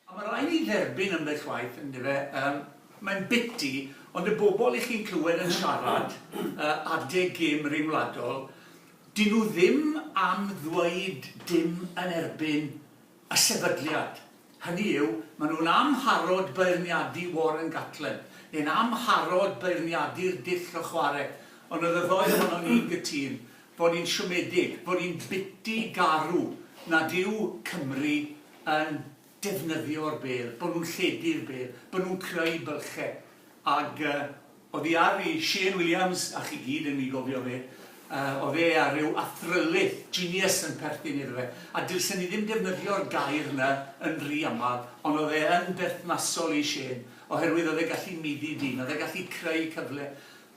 A ma' rai' ni dderbyn ambell waith yndyfe yym mae'n biti ond y bobl i chi'n clywed yn siarad yy adeg gêm ryngwladol 'dyn nhw ddim am ddweud dim yn erbyn y sefydliad, hynny yw, maen nhw'n amharod beirniadu Warren Gatland, neu'n amharod beirniadu'r dull o chwarae, ond oedd y ddou ohonon ni'n gytûn bod ni'n siomedig, bod ni'n biti garw nad yw Cymru yn defnyddio'r bêl, bod nhw'n lledu'r bêl, bod nhw'n creu bylchau, ag yy. Oddi ar fi, Shane Williams, a chi gyd yn mi gofio fe, yy, o'dd e a ryw athrylith, genius, yn perthyn iddo fe, a dylsen i ddim defnyddio'r gair 'na yn ry amal, ond o'dd e yn berthnasol i Shane, oherwydd o'dd e gallu middi dyn, o'dd e gallu creu cyfle,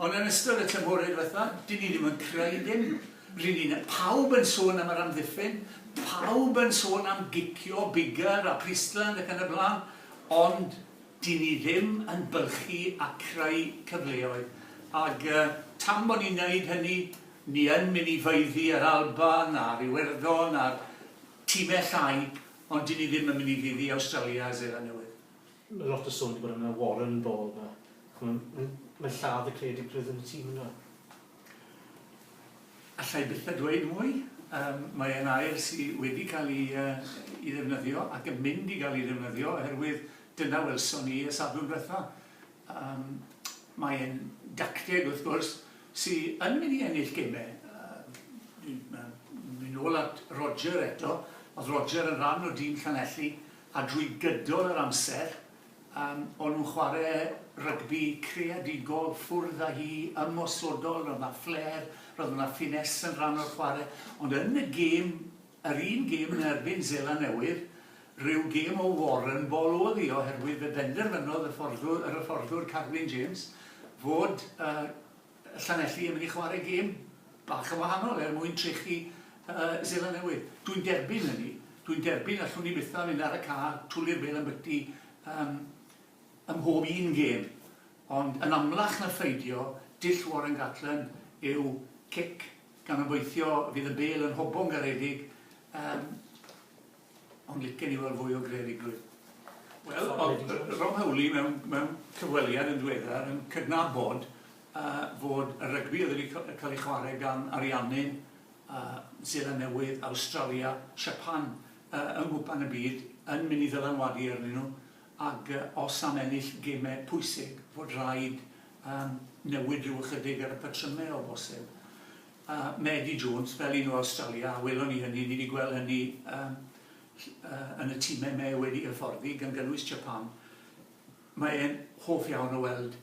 ond yn ystod y tymhore dwetha, 'dyn ni ddim yn creu dim, ry'n ni'n, pawb yn sôn am yr amddiffyn, pawb yn sôn am gicio Biggar a Priestland ac yn y bla'n, ond, Dyn ni ddim yn byrchu a creu cyfleoedd, ag tan bod ni'n neud hynny, ni yn mynd i faeddu a'r Alban, a'r Iwerddon, a'r time llai, ond dyn ni ddim yn mynd i faeddu Awstralia a Seland Newydd. Mae lot o sôn di bod am y Warren Ball ma. Ch'mo, mae'n lladd y credit rhythm y tîm ynde? Alla i byth a dweud mwy, yym mae e'n air sy wedi cael ei yy ei ddefnyddio ac yn mynd i gael ei ddefnyddio oherwydd dyna welson ni y sadwrn dwetha. Yym mae e'n dacteg wrth gwrs sy yn mynd i ennill geme yy yy dwi'n mynd nôl at Roger eto, o'dd Roger yn ran o dîm Llanelli a drwy gydol yr amser Yym, o'n nhw'n chwarae rygbi creadigol, ffwrdd â hi, ymosodol, roedd 'na flair, roedd 'na finesse yn rhan o'r chwarae, ond yn y gêm, yr un gêm yn erbyn Seland Newydd, rhyw gêm o warren ball oedd hi oherwydd fe benderfynodd y fforddwr, yr hyfforddwr Carwyn James fod yy Llanelli yn mynd i chwarae gêm bach yn wahanol er mwyn trechu Seland Newydd. Dwi'n derbyn hynny. Dwi'n derbyn allwn ni bythau mynd ar y car, twli'r bêl ymbyty ym mhob un gêm. Ond yn amlach na pheidio, dull Warren Gatland yw cic, gan obeithio fydd y bêl yn hobo'n garedig. Ond licen i weld fwy o greadigrwydd. Wel, oedd Rob Howley mewn, mewn cyfweliad yn ddiweddar yn cydnabod uh, fod y rygbi oedd wedi cael ei chwarae gan ariannydd uh, Zeland Newydd, Awstralia, Japan, uh, yng Nghwpan y Byd, yn mynd i ddylanwadu arnyn nhw, ac uh, os am ennill gemau pwysig, fod rhaid um, newid rhyw ychydig ar y patrymau o bosib. a Medi Jones fel un o Awstralia a welon ni hynny, ni 'di gweld hynny yym yy yn y time me wedi hyfforddi gan gynnwys Japan, mae e'n hoff iawn o weld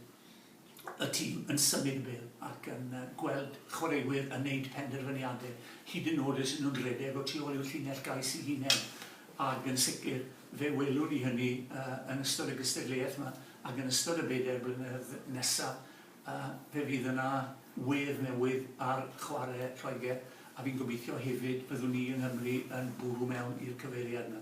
y tîm yn symud y bêl ac yn yy gweld chwaraewyr yn neud penderfyniade hyd yn nod os y'n nhw'n rhedeg o tu ôl i'w llinell gais i hunen ag yn sicr fe welwn ni hynny yy yn ystod y gystadleuaeth 'ma ag yn ystod y bedair blynedd nesa A fe fydd yna wedd newydd ar chwarae Lloegr, a fi'n gobeithio hefyd byddwn ni yng Nghymru yn bwrw mewn i'r cyfeiriad 'na.